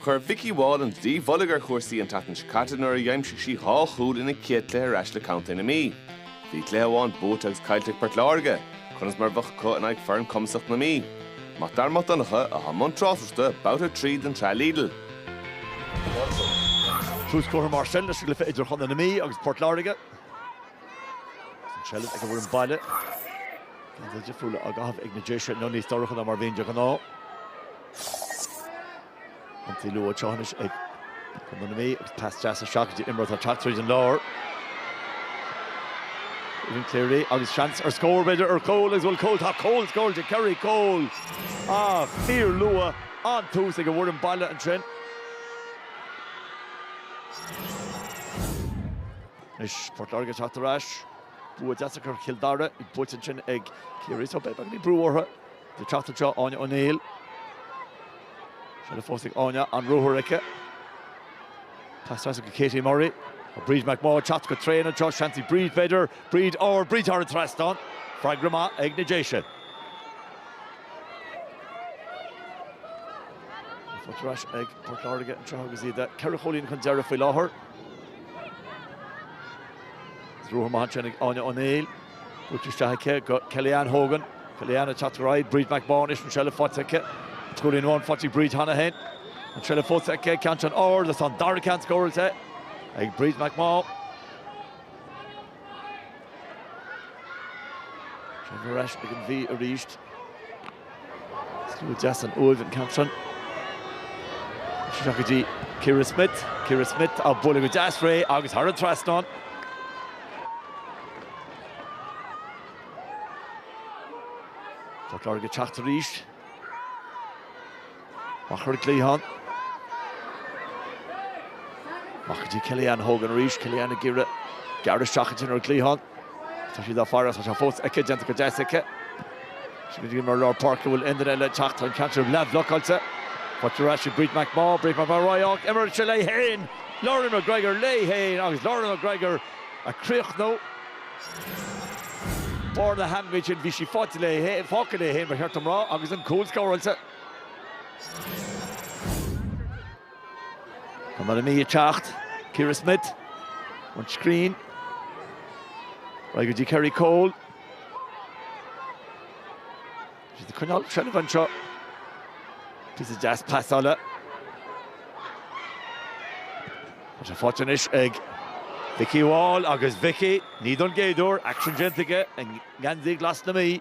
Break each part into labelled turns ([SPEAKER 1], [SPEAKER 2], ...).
[SPEAKER 1] Chuir Vikki Wall an dlaoi mhullaigh ar chúrsaí an tseachtain seo caite nuair a d'aimsigh sí dhá chúl ina céad cluiche ar ais le contae na Mí. Bhí cluiche amháin buaite agus caillte ag Port Láirge. Conas mar a bheadh acu in aghaidh foireann cumasach na Mí? Mac Dara Mac Donncha, atá i mbun tráchtaireachta, babhta 3 den tsraith
[SPEAKER 2] Lidl. Tús curtha mar sin leis an gcluiche idir chontae na Mí agus Port Láirge. Is an tseilbh ag an bhfoireann baile. Geansaithe difriúla á gcaitheamh ag na Déise inniu níos dorcha ná mar a bhíonn de ghnáth. An t-ionsaí luath anois ag contae na Mí agus pas deas isteach go dtí imreoir atá ag teacht tríd an lár. Aoibhín Cleary agus seans ar scór b'fhéidir ar chúl agus an bhfuil cúl, tá cúl scóráilte, Kerrie Cole ach fíorluath, an-tús ag an bhfoireann baile ansin. Anois Port Láirge ag teacht ar ais. Bua deas acu ar Chill Dara, bhí buaite ansin ag Ciarraí so beidh beagáinín brú orthu. Ag teacht anseo Áine O'Neill. Seilbh fós ag Áine an-ruathar aici. Pas deas ansin go Katie Murray. Tá Bríd McMaugh ag teacht go tréan anseo, seans ag Bríd b'fhéidir, Bríd óir, Bríd thar an trasnán. Freagra maith ag na Déise. Tá faighte ar ais ag Port Láirge anseo agus iad ceithre chúilín chun deiridh faoi láthair. Is ruathar maith anseo ag Áine O'Neill. Buailte isteach aici go Kellyanne Hogan. Kellyanne ag teacht ar aghaidh. Bríd McMaugh anois an seilbh faighte aici. An cúilín amháin faighte ag Bríd cheana féin. An seilbh fós aici an ceann san ard agus tá an dara ceann scóráilte ag Bríd McMaugh. Seilbh ar ais ag an Mhí arís. Stiúrtha go deas ón láimh an ceann san. Is isteach go dtí Ciara Smith. Ciara Smith á bualadh go deas ré agus thar an trasnán. Port Láirge ag teacht arís. Amach ar an gcliathán. Amach go dtí Kelly-Anne Hogan arís. Kelly-Anne ag iarraidh gearradh isteach ansin ar an gcliathán. Tá siad á faire agus tá sé fós aici, déanta go deas aici. Sin go dtí imreoir lár páirce bhfuil éinne eile ag teacht an ceann san leathbhlocáilte. Buaite ar ais ag Bríd McMaugh, Bríd McMaugh ar aghaidh go himreoir, tá sí léi féin! Lauren McGregor léi féin agus Lauren McGregor á chríochnú. Foirne theann, bhí sí faighte léi féin, fágtha léi féin ba cheart dom a rá, agus an cúl scóráilte. Contae na Mí ag teacht Ciara Smith ón Scrín ar aghaidh go dtí Kerrie Cole. Is iad ag coinneáil seilbh anseo. Píosa deas pasála. Tá sé faighte anois ag Vikki Wall agus Vikki, ní don gcéad uair, aicsean déanta aici i ngeansaí glas na Mí.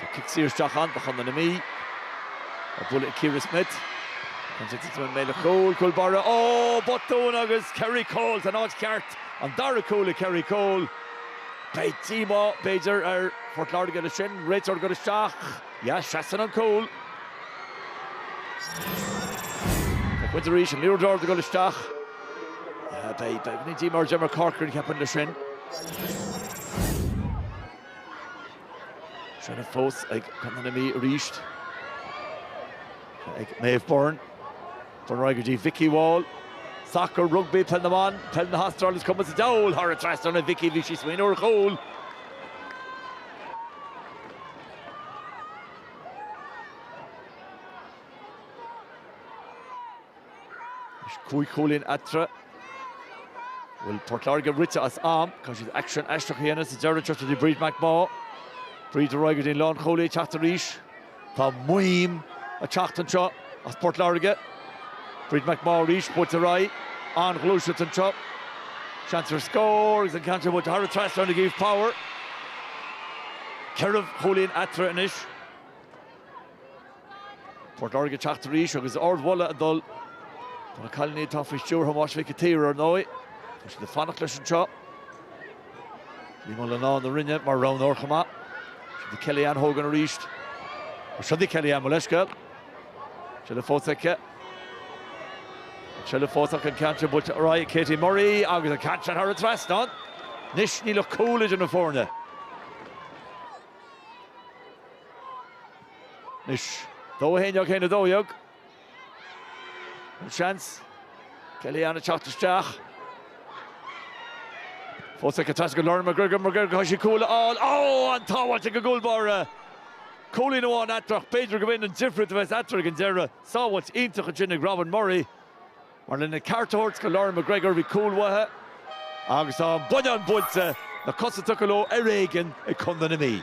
[SPEAKER 2] Tá cic saor isteach anois do Chontae na Mí. buailte ag Ciara Smith. Cúl! Cúl báire botún agus Kerry Cole san áit cheart. An dara cúl ag Kerry Cole. Beidh díomá, b'fhéidir, ar Phort Láirge leis sin. Réiteoir ag dul isteach. Yeah, seasann an cúl. Buailte arís an liathróid ard ag dul isteach. Beidh díomá ar Deirdre Corcoran ceapaim leis sin. Seilbh fós ag Contae na Mí arís. Ag Maeve Byrne. Byrne ar aghaidh go dtí Vikki Wall. Sacar, rugbaí, peil na mban, peil na hAstráile is cuma sa diabhal thar an trasnán. Vikki, bhí sí ag smaoineamh ar chúl. Is cúig chúilín eatarthu a bhfuil Port Láirge rite as am. Caithfidh siad aicsean éicint a dhéanamh sa deireadh seo, chuig Bríd McMaugh, Bríd ar aghaidh go dtí an lánchúlaí, ag teacht arís. Tá maidhm ag teacht anseo as Port Láirge. Bríd McMaugh arís, buailte ar aghaidh, an-ghluaiseacht anseo. Seans ar scór agus an ceann seo buailte thar an trasnán ag Eve Power. Ceithre chúilín eatarthu anois. Port Láirge ag teacht arís agus ardmholadh ag dul do na cailíní atá faoi stiúir Thomáis Mhic a' tSaoir ar ndóigh. Tá siad ag fanacht leis anseo. Liam Ó Lonáin ón Rinn mar roghnóir chomh maith. Siúd í Kellyanne Hogan arís. Siúd í Kellyanne mo leithscéal. Seilbh fós aici. Seilbh fós aici an ceann buailte ar aghaidh ag Katie Murray agus an ceann seo thar an trasnán. Anois níl ach cúl idir na foirne. Anois, 2-9 in aghaidh 2-12. An seans, Kelly Ann ag teacht isteach. Fós ag teacht as go Lauren McGregor, McGregor caithfidh sí cúl a fháil. Ó! An-sábháilt ag an gcúl báire. Cúilín amháin eatarthu ach b'fhéidir gurb in an difríocht a bheas eatarthu ag an deireadh. Sábháilt iontach ansin ag Robin Murray. Mar lena ceart a thabhairt do Lauren McGregor bhí cúl uaithe agus an bonnán buailte, na cosa tugtha leo ar éigean ag Contae na Mí.